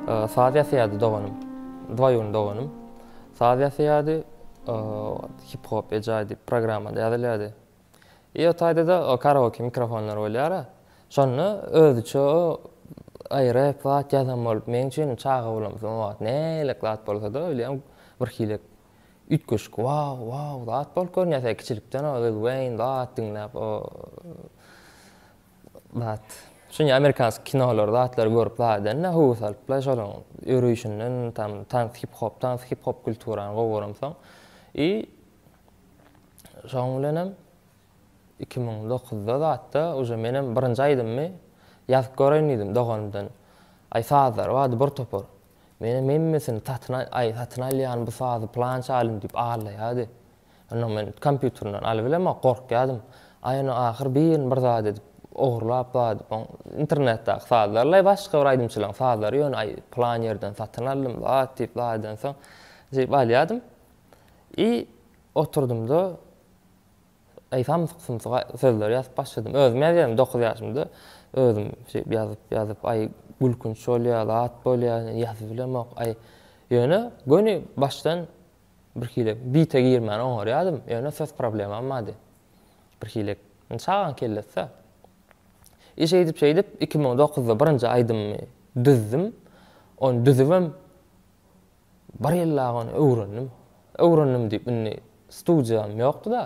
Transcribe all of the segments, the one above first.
Saz ýasaýardy doganym. Dwaýun doganym. Saz ýasaýardy. Hip hop ejaý diýip programmada ýazylýardy. I o taýda-da o karaoke mikrofonlar bolýar-a. Şonda özüçe o aý rep zat ýazan bolup meň üçin çaga bolamsoň o wagt nälik zat bolsa-da öýlem birhili Üýtgeşik waw waw zat bolup görünýärsiň kiçilikden o Lil Weýn zat diňläp o zat şuny amerikansk kinolar zatlar görüp zat edende höwes alypla şolaň örüýşinden tam tans hip hop tans hip hop kulturany gowy göremsoň i şoň bilenem iki müň dokuzda zatda uje menem birinji aýdymmy ýazyp göreýin diýdim doganymdan aý sazlary bardy bir topar Menem hemmesini satyn aý satyn alýan bu sazy pylanç alym diýip allaýady. Onda men kompýuterinden alybilemok gorkýadym. Aý onda ahyr birini bir zat edip ogurlap zady oň internetdäki sazlarylaý başga bir aýdymçylaň sazlary ýöne aý pylan ýerden satyn aldym zat diýip zat edensoň diýip alýadym. I oturdymda. Aýsam sumsyga sözleri ýazyp başladym. Özüm ýazýaryn dokuz ýaşymda. Özüm şeýip ýazyp ýazyp aý gülkünç bolýar, zat bolýar, ýazyp bilemok aý. Ýöne göni başdan birhili bite girmän oňarýadym. Ýöne söz problemam bardy. Birhili indi çagaň kellesä. I şeýdip şeýdip iki müň dokuzda birinji aýdymymy düzdüm. Ony düzübem Bir ýyl dagy ony öwrendim. Öwrendim diýip indi studiýam ýokdy-da.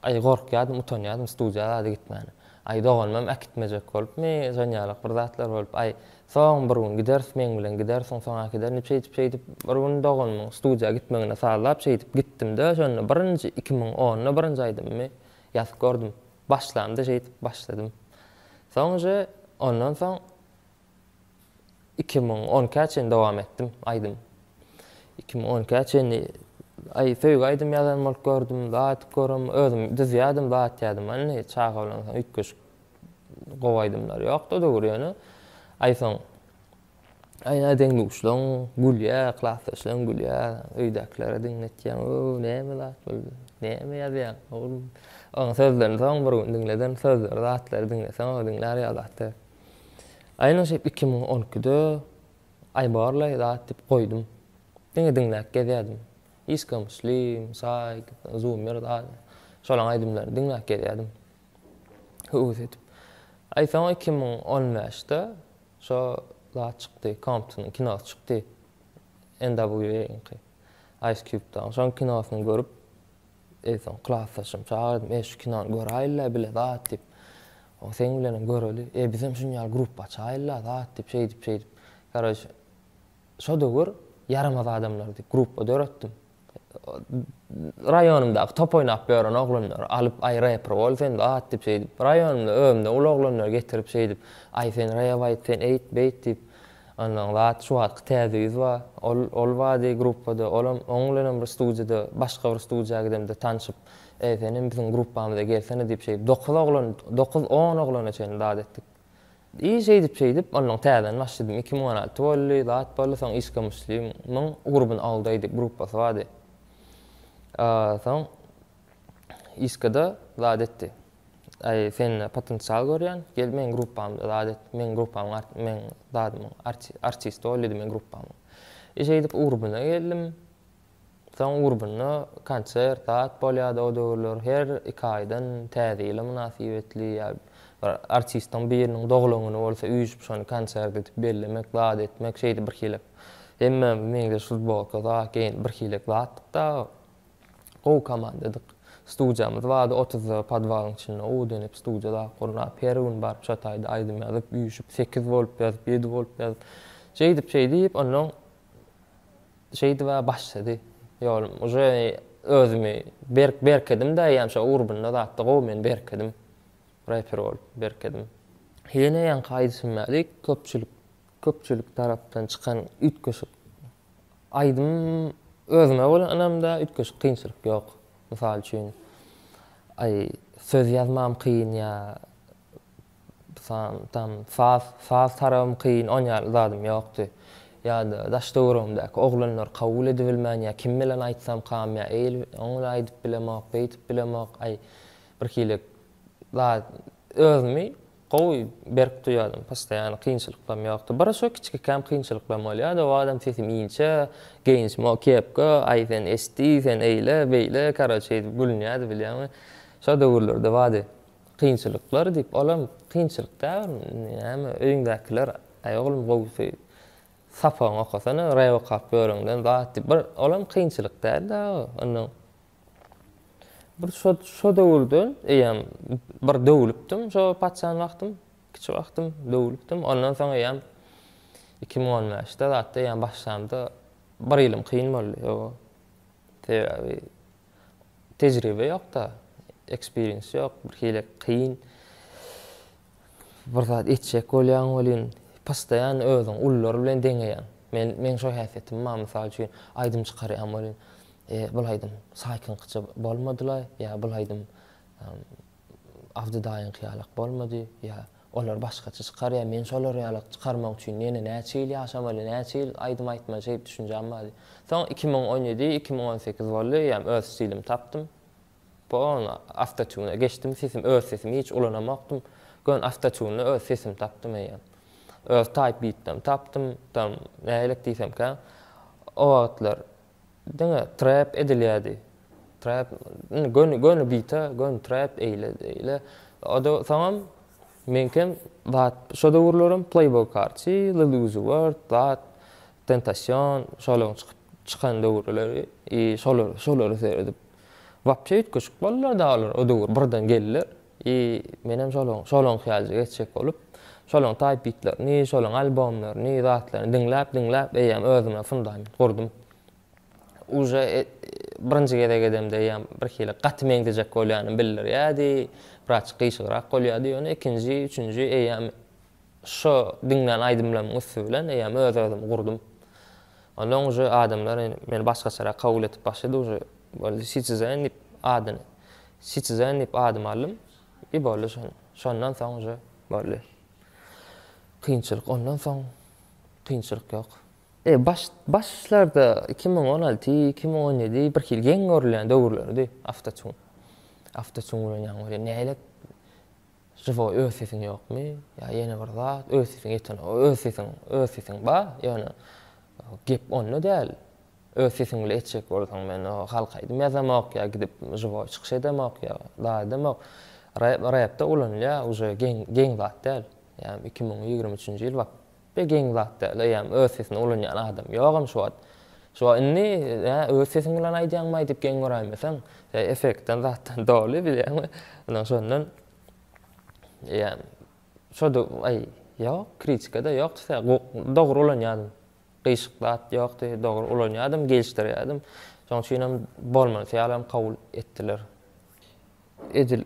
Aý gorkýardym, utanýardym studiýa zady gitmäne. Aý doganymam äkitmejek bolupmy, zanýarlyk bir zatlar bolup, aý soň bir gün gideris meň bilen gidersiň, soň äkiderin diýip şeýdip-şeýdip bir gün doganymyň studiýa gitmegine sazlap şeýdip gitdim-de şonda birinji iki müň onda birinji aýdymymy ýazyp gördüm. Başlamda şeýdip başladym. Soň uje ondan soň iki müň on ikä çenli dowam etdim aýdym iki müň on ikä çenli aý söýgi aýdym ýazan bolup gördüm zat aýdyp görem özüm düzýädim zat aýtýadym indi çaga bilen soň üýtgeşik gowy aýdymlar ýokdy o döwür ýöne aý soň aýna deňduşlaň gülýä klasdaşlaň gülýä öýdäkilere diňletýäň o näme zat bul näme ýazýaň oglum oň sözlerini soň bir gün diňleden sözleri zatlary diňleseň o diňlär ýaly zat däl. Aýna şeýdip iki müň on ikide Aý barlaý zat diýip goýdum. Diňe diňläp gezýärdim. Işka Muslim, Saýk, Zummer zat şolaň aýdymlaryny diňläp gezýärdim. Höwes edip. Aý soň iki müň on bäşde şo zat çykdy, Komptonyň kinosy çykdy. NWA-nyňky. Ice Cube-dagyň. Şoň kinosyny görüp. Eýsem klasdaşym çagyrdym, Eý, şu kinony göräýeli-le bile zat diýip. Oň seň bilenem göreli. Eý, bizem şuny ýaly gruppa açaýyl-la zat diýip, şeýdip-şeýdip. Garoç, şo döwür Ýaramaz adamlar diýip gruppa döretdim. Raýonymdaky top oýnap ýören oglanlary alyp, Aý, reper bol sen zat diýip, şeýdip. Raýonymda özümden uly oglanlary getirip, şeýdip, Aý, sen rew aýt, sen eýt, beýt diýip. Ondan zat şu wagtky täze ýüz bar. Ol ol bady gruppada. Olam oň bilenem bir studiýada başga bir studiýa gidemde tanşyp, Eý, senem biziň gruppamyza gelsene diýip şeýdip dokuz oglan, dokuz on oglana çenli zat etdik. I şeýdip şeýdip ondan täzeden başladym. Iki müň on alty boldy, zat boldy, soň Işka Muslim, myň Urban All Day diýip gruppasy bardy. Soň Işkada zat etdi. Aý, sende potensial görýän, gel meň gruppamda zat et, meň gruppamyň art, meň zadymyň arti, artisti bol diýdi meň gruppamyň. E şeýdip urbuna geldim. Soň urbunda konsert, zat bolýardy o döwürler. Her iki aýdan Täze ýyla mynasybetli ýa bir artistiň biriniň doglan güni bolsa üýşüp şony konsert edip bellemek, zat etmek şeýdip birhili hemmämiz meňzeş futbolka, zat geýinip birhili zatdyk dagy. Gowy komandadyk. Studiýamyz bardy, otuzda podwalyň içinde gowy dönüp studiýa zat gurnap, her gün baryp şo taýda aýdym ýazyp, üýşüp, sekiz bolup ýazyp, ýedi bolup ýazyp. Şeýdip, şeýdip, onnoň şeýdib-ä başlady ýolum. Uje özümi berk berkedim-dä eýýäm şo urbunda zatda gowy men berkedim. Reper bolup berkedim. Ýene ýaňky aýdyşym ýaly köpçülik Köpçülik tarapdan çykan üýtgeşik aýdym özüme bolan ynamda üýtgeşik kynçylyk ýok. Mysal üçin, aý, söz ýazmam kyn ýa sam, tam, saz, saz tarabym kyn, on ýaly zadym ýokdy. Ýa-da daş-töweregimdäki oglanlar kabul edibilmän ýa kim bilen aýtsam kam ýa eýl, oň bilen aýdyp bilemok, beýtip bilemok, aý, birhili zad Özümi gowy berk duýýardym, postoýany kynçylyklarym ýokdy. Bir şo kiçikikäm kynçylyklarym bolýardy, o wagtam sesim inçe, geýnişim o kepka, aý sen eşdi, sen eýle, beýle, karoçe edip gülünýärdi bilýäňmi. Şo döwürlerde bady kynçylyklar diýip, olam kynçylyk däl, näme öýüňdäkiler, aý oglum gowusy sapagyňy okasana, rep okap ýöreňden zat diýip, bir olam kynçylyk däl-de, ynha. Bir şo, şo döwürde eýýäm bir döwlüpdim, şo paçan wagtym, kiçi wagtym döwlüpdim. Ondan soň eýýäm 2015-de zatda eýýäm başlamda bir ýylym kyn boldy. O sebäbi tejribe ýok-da, eksperiens ýok, birhili kyn. Bir zat etjek bolýaň welin, postoýan özüň ulular bilen deňeýäň. Men, meň şo häsiýetim bar, mysal üçin, aýdym çykarýan welin, e, bul aýdym Saýkyňkyça bolmady-la, ýa bul aýdym Abdy daýyňky ýalak bolmady, ýa olar başgaça çykarýar, men şolar ýalak çykarmak üçin ýene näçe ýyl ýaşamaly, näçe ýyl aýdym aýtmaly şeýdip düşünjäm bardy. Soň iki müň on ýedi, iki müň on sekiz boldy, eýýäm öz stilimi tapdym. Pon awtotune geçdim sesim öz sesimi hiç ulanamokdym gön awtotunda öz sesimi tapdym eýýäm öz taýp bitdam tapdym tam nähilek diýsemkä o wagtlar diňe trap edilýädi trap indi göni göni bite göni trap eýle eýle oda soňam meňkem zat şo döwürlerem playboy karçi lil uzi wert zat tentasion şolaryň çykyp çykan döwürleri i şolar şolary seredip Wapje üýtgeşik boldular dagy olar o döwür birden geldiler i menem şolaň şolaň hyýalja geçjek bolup şolaň taýp bitlerini şolaň albomlaryny zatlaryny diňläp diňläp eýýäm özüme fundament gurdum uje birinji gezek edemde eýýäm birhili gaty meňzejek bolýanym bildirýärdi biraçyk gyşygrak bolýardy ýöne ikinji üçünji eýýäm Şo diňlän aýdymlarymyň üsti bilen eýýäm öz özümi gurdum. Onsoň uje adamlar meni başgaçarak kabul edip başlady, uje boldy Sitizen diýip adyny Sitizen diýip adymy aldym i boldy şon. Şondan soň uje boldy. Kynçylyk ondan soň kynçylyk ýok. E baş başlarda iki müň on alty, iki müň on ýedi birhili geň görülýän döwürleridi, awtotune. Awtotune bilen ýaňy bolýar. Nälet Žiwo öz sesiň ýokmy ýa ýene bir zat öz sesiň ýeten öz sesiň öz sesiň ba ýöne gep onda däl öz sesiň bile etjek bolsaň men halk aýdym ýazamok ýa gidip žiwo çykyş edemok ýa da edemok rep repde ulanylýa uje geň geň zat däl ýa iki müň ýigrimi üçünji ýyl bak Be geň zat däl eýýäm öz sesini ulanýan adam ýogam şu wagt. Şu indi nä öz sesiň bilen aýdýaňmaý diýip geň göräýmeseň. Şeý effektden zatdan doly bilýäňmi. Ynha şondan eýýäm şoda aý ýok kritika-da ýokdy sä dogry ulanýadym. Gyýşyk zat ýokdy dogry ulanýadym gelişdirýädim. Şoň üçinem bolmanysy ýalam kabul etdiler. Edil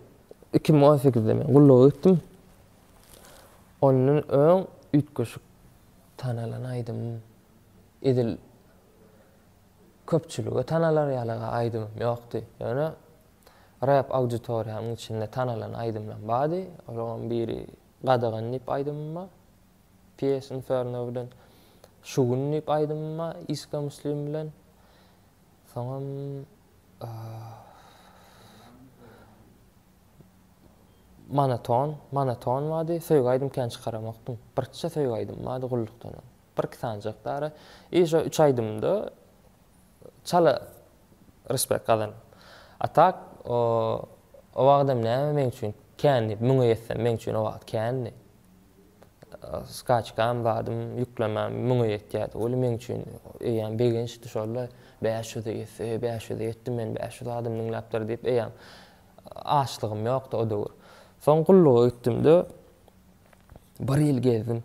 iki müň on sekizde men gulluga gitdim. Ondan öň üýtgeşik tanalan aýdymym, edil köpçülige tanalar ýaly aýdymym ýokdy. Ýöne rep auditoriýamyň içinde tanalan aýdymlarym bardy. Olaryň biri Gadagan diýip aýdymym bar. PS Inferno bilen Şu gün diýip aýdymym bar, Iska Muslim bilen. Soňam Monoton, monoton bady, söýgi aýdym kän çykaramakdym. Birçe söýgi aýdym bady gullukdan öň. Birki sanjak dara. I şo üç aýdymda çala respekt gazanyp. A tak, o o wagydam näme meň üçin kän diýip müňe ýetsem meň üçin o wagt kändi. Skaçkam zadym ýüklemem müňe ýetýärdi. Ol meň üçin eýýäm begençdi şol-da. Bäş ýüze ýetse, bäş ýüze ýetdim men, bäş ýüz adym diňläpdir diýip eýýäm açlygym ýokdy o döwür. Soň gulluga gitdim-de, bir ýyl gezdim.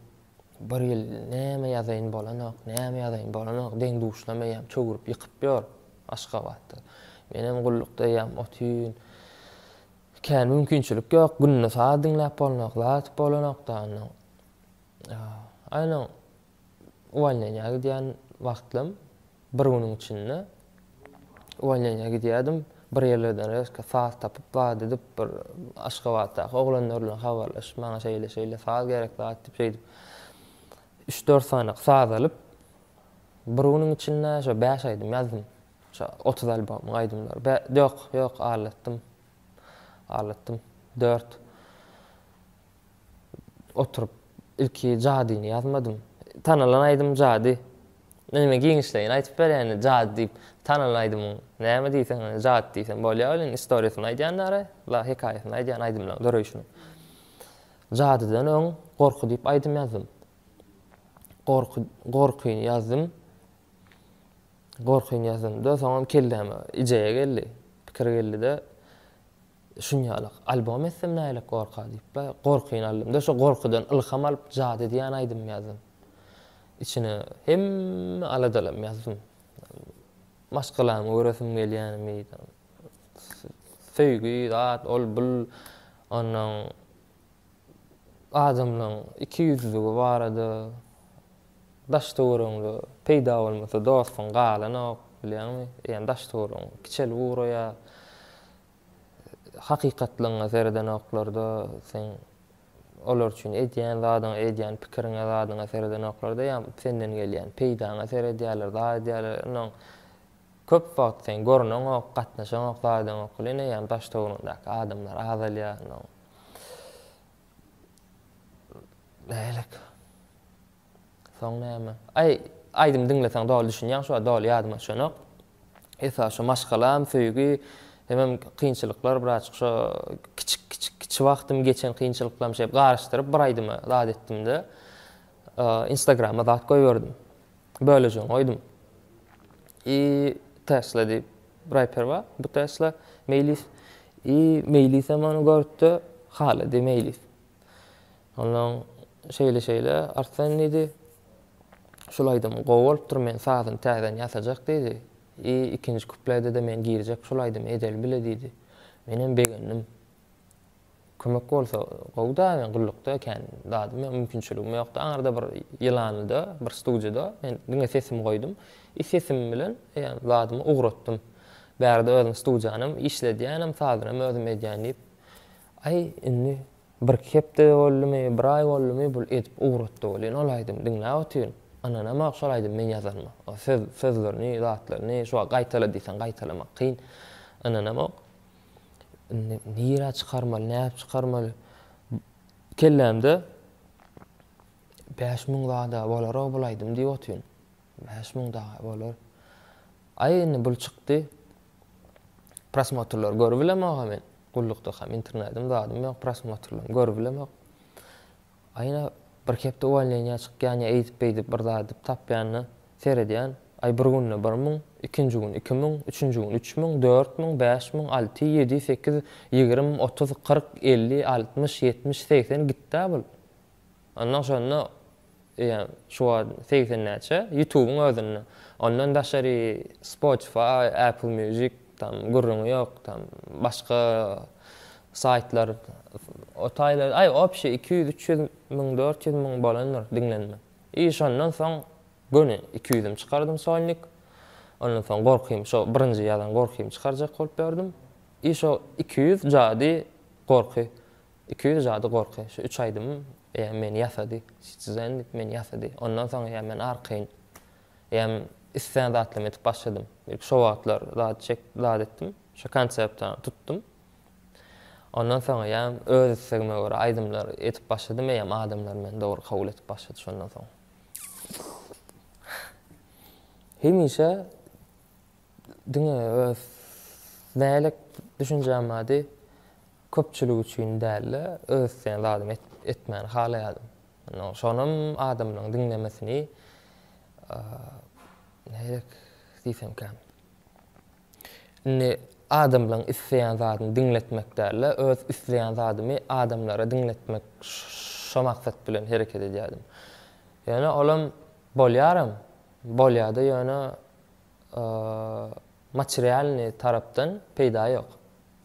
Bir ýyl näme ýazaýyn bolanok, näme ýazaýyn bolanok, deň-duşlam eýýäm çöwrüp ýykyp ýör Aşgabatda. Menem gullukda eýýäm otyn, Kän mümkinçilik ýok, günde saz diňläp bolnok zat bolanokda onnoň. Aýynyň uwolneniýa gidýän wagtlym bir günüň içinde uwolneniýa gidýärdim, bir ýerlerden rezko saz tapyp zat edip bir Aşgabatdaky oglanlar bilen habarlaşyp maňa şeýle-şeýle saz gerek zat diýip şeýdip üç-dört sanyk saz alyp bir günüň içinde şo bäş aýdym ýazdym. Şo otuz albomyň aýdymlary. Bä, ýok, ýok, aldatdym. Aldatdym. Dört. Oturyp, ilki Jadyny ýazmadym. Tanalan aýdym Jady. Indi giňişleýin aýdyp berýän, Jady diýip, tanalan aýdymyň näme diýseň, Jady diýseň bolýar weli, indi istoriýasyny aýdýandara, la, hekaýasyny aýdýan aýdymlaryň döreýşini. Jadydan öň Gorky diýip aýdym ýazdym. Gorky, Gorkyny ýazdym. Gorkyň ýazynda soňam kelläme ideýa geldi. Pikir geldi-de, şunýalak albom etsem nälik gorka diýip, gorkyny aldym-da, şo gorkudan ylham alyp, Jady diýen aýdym ýazdym. Içine hemme aladalamy ýazdym. Maşgalamy göresim gelýänimi, söýgi, zat, ol, bul, onnoň Adamlaň iki ýüzlügi barada daş-töweregiňde peýda bolmasa dostuň galanok, bilýäňmi? Ýani daş-töweregiň kiçelip ugraýar. Hakykatlygyňa seredenoklarda, seň olar üçin edýän zadyňa, edýän pikiriňe, zadyňa seredenoklarda ýa senden gelýän peýdaňa seredýärler, zat edýärler. Onnoň köp wagt seň görneňok, gatnaşaňok zadyň okula ine ýani daş-töweregiňdäki adamlar azalýar onnoň. Nälik? Soň näme? Aý, aýdym diňleseň doly düşünýäň, şu doly ýadyma düşenok. Esas şu maşgalam, söýgi, hemem kynçylyklar birazjyk şu kiçik kiçik kiçi wagtym geçen kynçylyklarym şeýdip garyşdyryp bir aýdyma zat etdimde. Instagrama zat goýberdim. Bölejini goýdum. I Tesla diýip reper bar. Bu Tesla Meýlis i Meýlis hem ony görüpdi. Halady Meýlis. Ondan şeýle şeýle Arslan diýdi. Şul aýdym gowy bolupdyr, men sazyny täzeden ýasajak diýdi. I ikinji kuplede-de men girjek şul aýdymy edeli bile diýdi. Men hem begendim. Kömek bolsa gowy-da, men gullukda kän zadym, mümkinçiligim ýokdy. Aňyrda bir ýylanlyda, bir studiýada men diňe sesimi goýdum. I sesim bilen ýa-da zadymy ugratdym. Bärde özüm studiýanam işledýänem, sazynam özüm edýän diýip. Aý, indi birki hepde boldumy, bir aý boldumy bul edip ugratdy welin ol aýdymy diňläp otyryn. Ynanamok şol aýdymy men ýazanyma. Söz, sözlerini, zatlaryny şuwagt gaýtala diýseň gaýtalamak kyn. Ynanamok. Indi nirä çykarmaly, nädip çykarmaly? Kellämde bäş müň zada bolar-ow bul aýdym diýip otyryn. Bäş müň dagy bolar. Aý, indi bul çykdy. Prosmotrlary görüp bilemok-a men. Gullukdakam internedim, zadym ýok, prosmotrlarymy görüp bilemok. Aýna bir hepde uwalneniýa çykýan ýa eýdip-beýdip bir zat edip tapýanyna seredýän, aý bir günde bir müň, ikinji gün iki müň, üçünji gün üç müň, dört müň, bäş müň, alty, ýedi, sekiz, ýigirim, otuz, kyrk, elli, altmyş, ýetmiş, segsen gitd-ä bul. Ondan şonda eýýäm şu wagt segsen näçe, ýutubyň özünde, ondan daşary Spotify, Apple Music, Tam gürrüňi ýok tam başga saýtlar o taýlarda aý opşi iki ýüz üç ýüz müň dört ýüz müň bolandyr diňlenme i şondan soň göni iki ýüzüm çykardym solnik ondan soň gorkym şo birinji ýazan gorkymy çykarjak bolup ýördüm i şo iki ýüz jady gorky iki ýüz jady gorky şu üç aýdymym ýa meni ýasady siz siz endik meni ýasady ondan soň ýa men arkaýyn Eýýäm islän zatlarymy edip başladym. Ilki şo wagtlar zat çek, zat etdim. Şo konseptany tutdum. Ondan soň eýýäm öz islegime görä aýdymlar edip başladym. Eýýäm adamlar meni dogry kabul edip başlady şondan soň. Hemişe diňe öz nälik düşünjäm bardy, köpçülik üçin däl-de, öz islän zadymy etmäni halaýardym. Şonam adamlaryň diňlemesini näderek diýsemkäm. Indi adamlaryň isleýän zadyny diňletmek däl-de, öz isleýän zadymy adamlara diňletmek şo maksat bilen hereket edýärdim. Ýöne olam bolýaram, bolýa-da ýöne materialnyý tarapdan peýda ýok.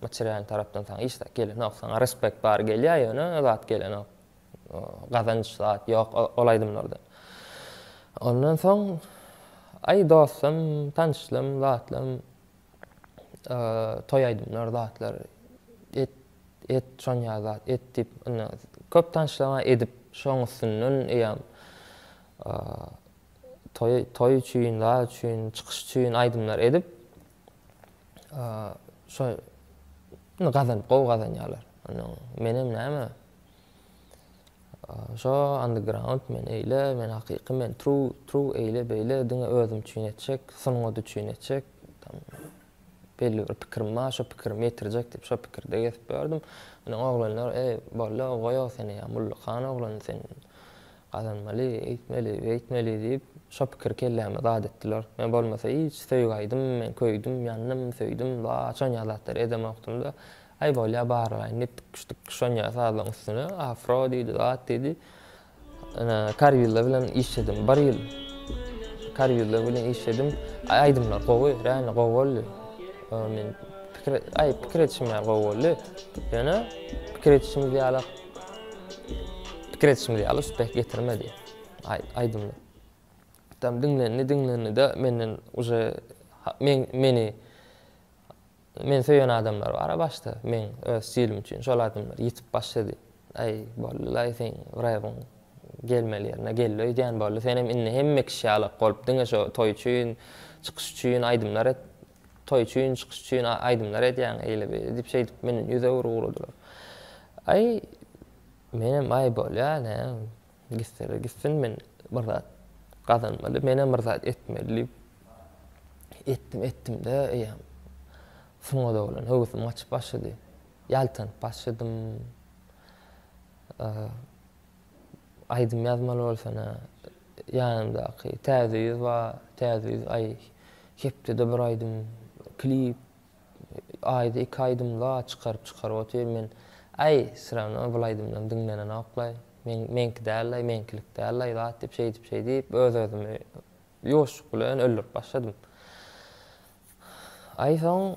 Materialnyý tarapdan saňa hiç zat gelenok. Saňa respekt bary gelýär ýöne zat gelenok. Gazanç zat ýok ol aýdymlarda. Ondan soň aý dostum, tanşlym, zatlam toý aýdymlar zatlar et et şonýa zat et diýip indi köp tanşlama edip şoň üstünden eýýam toý toý üçin zat üçin çykyş üçin aýdymlar edip şo gazanyp gowy gazanýarlar. Ondan menem näme Şo underground men eýle men hakyky men true true eýle beýle diňe özüm üçin etjek sungat üçin etjek tam belli bir pikirim bar şo pikirimi ýetirjek diýip şo pikirde gezip ýördüm ine oglanlar eý bolýa goýa seni ýa mullu han oglan sen gazanmaly eýtmeli beýtmeli diýip şo pikiri kelläme zat etdiler men bolmasa hiç söýgi aýdym men köýdüm ýandym söýdüm baa şonýa zatlar edemokdym da Aý bolýa barlaýyn diýip dykyş dykyş onýa sazlaň üstüne afro diýdi zat diýdi ene karýulla bilen işledim bir ýyl karýulla bilen işledim aý aýdymlar gowy reально gowy boldy men pikir aý pikir edişim ýaly gowy boldy ýöne pikir edişimiz ýaly pikir edişimiz ýaly üspeh getirmedi aý aýdymlar tam diňlendi diňlendi de menden uje men meni Men söýen adamlar bara başda meň öz stilim üçin şol adamlar ýitip başlady aý boldylaý seň rebiň gelmeli ýerine geldi öýdýän boldy senem indi hemme kişi ýalak bolup diňe şo toý üçin çykyş üçin aýdymlar et toý üçin çykyş üçin aýdymlar edýäň eýle beýle diýip şeýdip menden ýüz öwür ugradylar aý menem aý bolýa näme Gitseler gitsin, men bir zat gazanmaly, menem bir zat etmeli diýip, etdim, etdim-de, eýýäm sungat oglan höwesim gaçyp başlady. Ýaltanyp başladym. Aýdym ýazmaly bolsana, ýanymdaky Täze ýüz bar, Täze ýüz aý, hepdede bir aýdym, klip, Aýda iki aýdymla çykaryp çykaryp otyr men äý syrana bul aýdymdan diňlenenoklaý meň meňki dällaý meňkilik dällaý zat diýip şeýdip şeýdip öz özümi ýuwaşjyk bilen öldürip başladym aý soň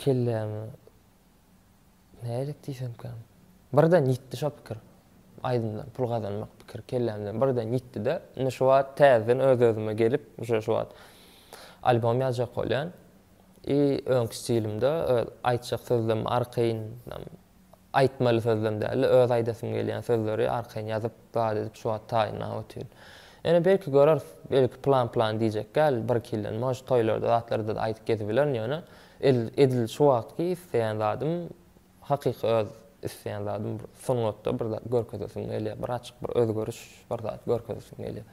kellämi Nälik diýsemkäm. Birden ýitdi şo pikir. Aýdymdan pul gazanmak pikiri kellämden birden ýitdi-de, indi şu wagt täzeden öz-özüme gelip, uje şu wagt albom ýazjak bolýan. I öňki stilimde öz aýtjak sözlemimi arkaýyn, aýtmaly sözlem däl-de, öz aýdasym gelýän sözleri arkaýyn ýazyp, zat edip şu wagt taýynlap otyryn. Ýöne belki göreris, belki plan-plan diýjek däl, bir-iki ýyldan, может, toýlarda, zatlarda-da aýdyp gezip bilerin, ýöne Edil şu wagtky isleýän zadym, hakyky öz isleýän zadym bir sungatda bir zat görkezesim gelýär. Bir açyk bir özgeriş, bir zat görkezesim gelýär.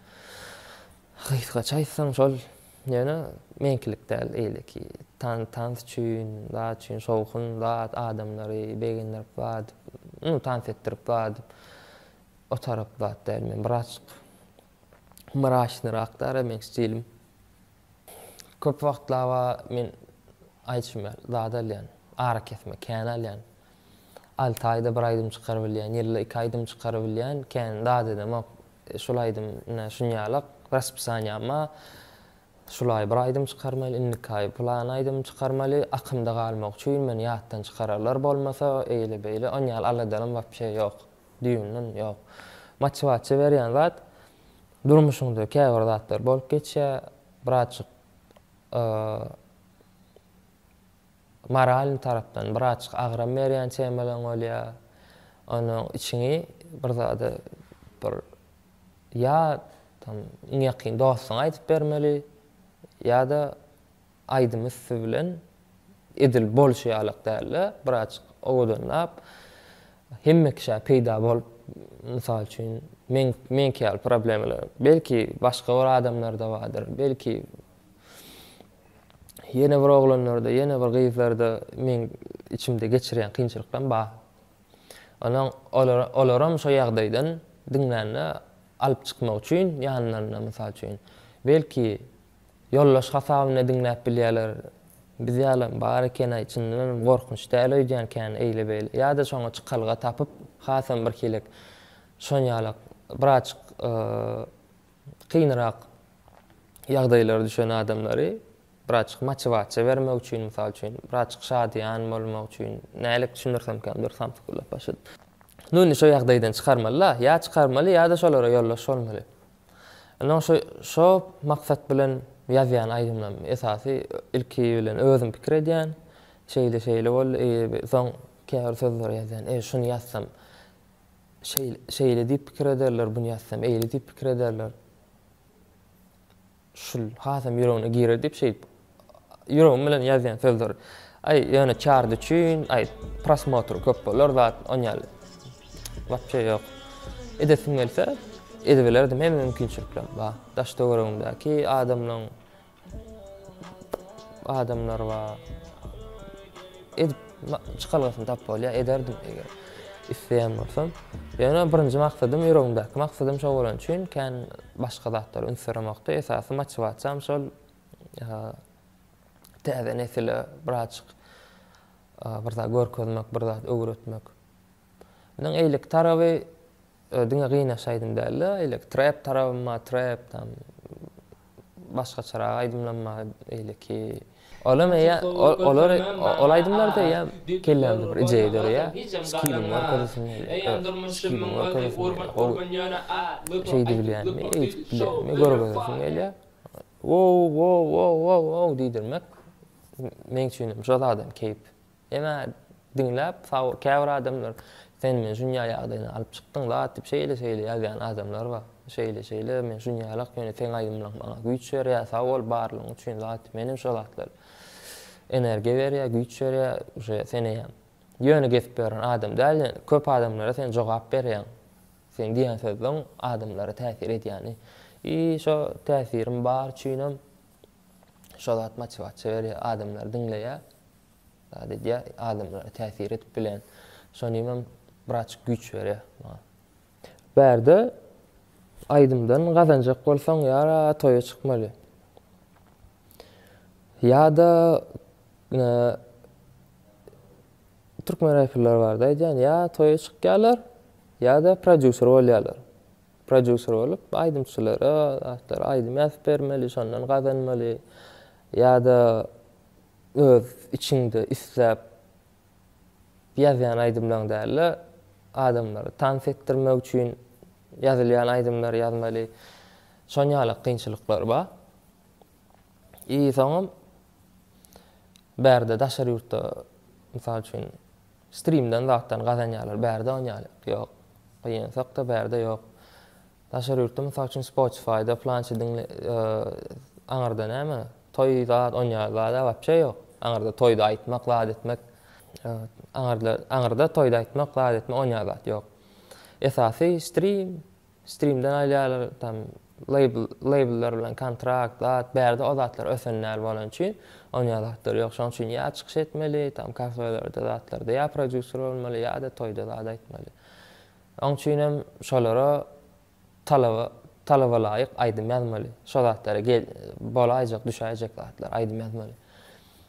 Gysgaça aýtsaň şol, ýöne meňkilik däl eýleki tans üçin, zat üçin şowhun, zat, adamlary begendirip zat, tans etdirip zat, o tarap zat däl. Men bir açyk mraçnyrakda da meň stilim. Köp wagtlaba men aýdyşym ýaly zat alýan, arakesme, kän alýan. Alty aýda bir aýdym çykarybilýän, ýylda iki aýdym çykarybilýän, kän zat edemok. Şul aýdym ine şunýalak, raspisaniýam bar. Şul aý bir aýdym çykarmaly, indiki aý plan aýdym çykarmaly. Akymda galmak üçin men ýatdan çykararlar bolmasa, eýle-beýle onýaly aladalarym wapşe ýok. Düýnden ýok. Motiwasiýa berýän zat durmuşyňda käbir zatlar bolup geçýär, birazjyk moralnyý tarapdan birazjyk agram berýän temalaryň bolýar. Onda içiňi bir zada bir ýa tam iň ýakyn dostuňa aýdyp bermeli ýa-da Aýdym üsti bilen edil bolşy ýalak däldi. Birazjyk owadanlap, hemme kişä peýda bolup, mysal üçin, meň, meňki ýaly problemalar, belki, başga bir adamlarda bardyr, belki, ýene bir oglanlarda, ýene bir gyzlarda meň içimde geçirýän kynçylyklarym bar. Onsoň olar, olaram şo ýagdaýdan diňlände alyp çykmak üçin ýanlarynda, mysal üçin, belki, Ýoldaş hasabyna diňläp bilýäler. Biz ýalam bar ekenaý çyndanam gorkunç däl öýdýän kän eýle beýle ýada şoňa çykalga tapyp hasam bir hilek şonýalak biraçyk kynrak ýagdaýlara düşen adamlary biraçyk motiwasiýa bermek üçin mysal üçin biraçyk şadyýan bolmak üçin nälik düşündirsemkäm dur samsyk ullap başladym. Nuny şo ýagdaýdan çykarmaly-la ýa çykarmaly ýada şolara ýoldaş bolmaly. Indi oň şo şo maksat bilen ýazýan aýdymlarym. Esasy ilki bilen özüm pikir edýän. Şeýle şeýle boldy. Eýe soň käbir sözleri ýazýan. Eý şuny ýazsam şeýle şeýle diýip pikir ederler, buny ýazsam eýle diýip pikir ederler. Şul hasam ýüregine girer diýip şeýdip Ýüregim bilen ýazýan sözdür. Aý, ýöne çard üçin, aý, prosmotr köp bolar zat, on ýaly. Wapçe ýok. Edesim gelse, edibilerdim, hemme mümkinçilikler bar. Daş-töweregimdäki adamlaň, adamlar bar. Edip, çykalgasyny tapyp bolýar, ederdim eger isleýän bolsam. Ýöne birinji maksadym, ýüregimdäki maksadym şo bolany üçin, kän başga zatlara üns beremokdy. Esasy motiwasiýam şol täze nesile birazjyk bir zat görkezmek, bir zat öwretmek. Meniň eýleki taraby diňe gynaş aýdym däl-de, eýleki trap tarabym bar, trap tam başgaçarak aýdymlarym bar eýleki. Olam eýe, olar ol aýdymlar da eýe kellämde bir ideýa döreýär. Skilliň görkezesim gelýär. Skilliň görkezesim gelýär. Gowy şeýdibilýänmi, eýdibilýänmi görkezesiň gelýär. Wow-wow-wow-wow-wow diýdirmek meň üçinem şol adam keýp. Emma diňläp, saw, käbir adamlar sen men şunýa ýagdaýyny alyp çykdyň zat diýip şeýle-şeýle ýazýan adamlar bar. Şeýle-şeýle men şunýalak ýöne seň aýdymlaň maňa güýç berýär sag bol barlygyň üçin zat diýip menem şol zatlar energiýa berýär güýç berýär uje seneýem ýöne gezip ýören adam däl ýöne köp adamlara sen jogap berýäň Sen diýen sözleň adamlara täsir edýäni i şo täsiriň bar üçinem şo zat motiwasiýa berýär adamlar diňleýä zat edýä adamlara täsir edip bilen şonimem biraçyk güýç berýä maňa. Bärde aýdymdan gazanjak bolsaň ýara toýa çykmaly ýada Türkmen reperleri barada aýdýan, ýa toýa çykýarlar, ýa-da prodýuser bolýarlar. Prodýuser bolup, aýdymçylara zatlar aýdym ýazyp bermeli, şondan gazanmaly, ýa-da öz içiňde isläp ýazýan aýdymlaryň däl-de, adamlary tans etdirmek üçin ýazylýan aýdymlary ýazmaly. Şon ýaly kynçylyklar bar. I soňam bärde daşary ýurtda mysal üçin strimden zatdan gazanýarlar. Bärde on ýaly ýok. Gyýynsakda bärde ýok. Daşary ýurtda mysal üçin Spotify-da plançy diňle aňyrda näme? Toý zat on ýaly zada wapşe ýok. Aňyrda toýda aýtmak, zat etmek. Aňyrda aňyrda toýda aýtmak, zat etmek on ýaly zat ýok. Esasy strim, Streamden alýarlar tam label labellar bilen kontrakt zat bärde o zatlar ösen däl bolan üçin onýa zatlar ýok şoň üçin ýa çykyş etmeli tam kafelarda zatlarda ýa prodýuser bolmaly ýada toýda zat aýtmaly oň üçinem şolara talaba talabalaýyk aýdym ýazmaly şo zatlara gel bolaýjak düşäýjek zatlar aýdym ýazmaly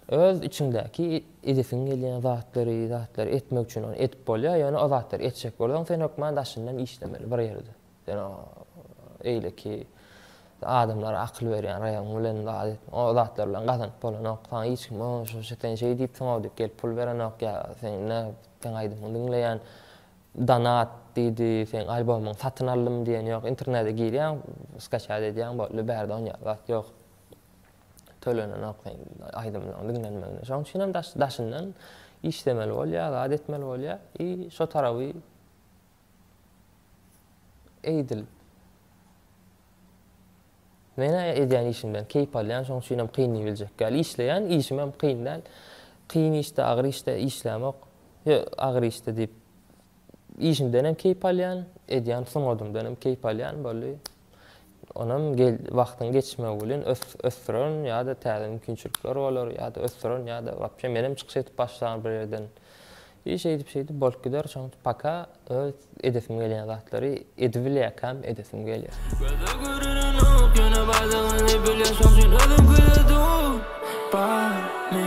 Öz içiňdäki edesiň gelýän zatlary, zatlary etmek üçin ony edip bolýar, ýöne o zatlary etjek bolsaň, sen hökman daşyndan işlemeli bir ýerde. Sen o eýleki adamlara akyl berýän raýagyň bilen zat et, o zatlar bilen gazanyp bolanok, saňa hiç kim o şu sen şeý diýipsiň-ow diýip gelip pul berenok ýa seň nä seň aýdymyňy diňleýän donat diýdi, seň albomyňy satyn aldym diýen ýok, internete girýäň, skaçat edýäň boldy, bärde ony ýaly zat ýok. tölenenok sen aýdymlaryň diňlenmegine. Şoň üçin hem daş, daşyndan işlemeli bolýar, zat etmeli bolýar. I şo tarawy eýdil. Men edýän işimden keýp alýan, şoň üçin hem kyn biljek. Gel işleýän, işim hem kyn däl. Kyn işde, agyr işde işlämok. Yo, agyr işde diýip işimden hem keýp alýan, edýän sungadymdan hem keýp alýan boldy. Onam wagtyň geçmegi bilen ösdüren ýa-da täze mümkinçilikler bolar, ýa-da ösdüren ýa-da wapşe menem çykyş edip başlanar bir ýerden. I şeýdip-şeýdip bolup gider, şoňa paka öz edesim gelýän zatlary edibilýärkäm edesim gelýär. Göze görünenok ýöne bardygyny bilýän şoň üçin özüm küýsedim. Bar mi?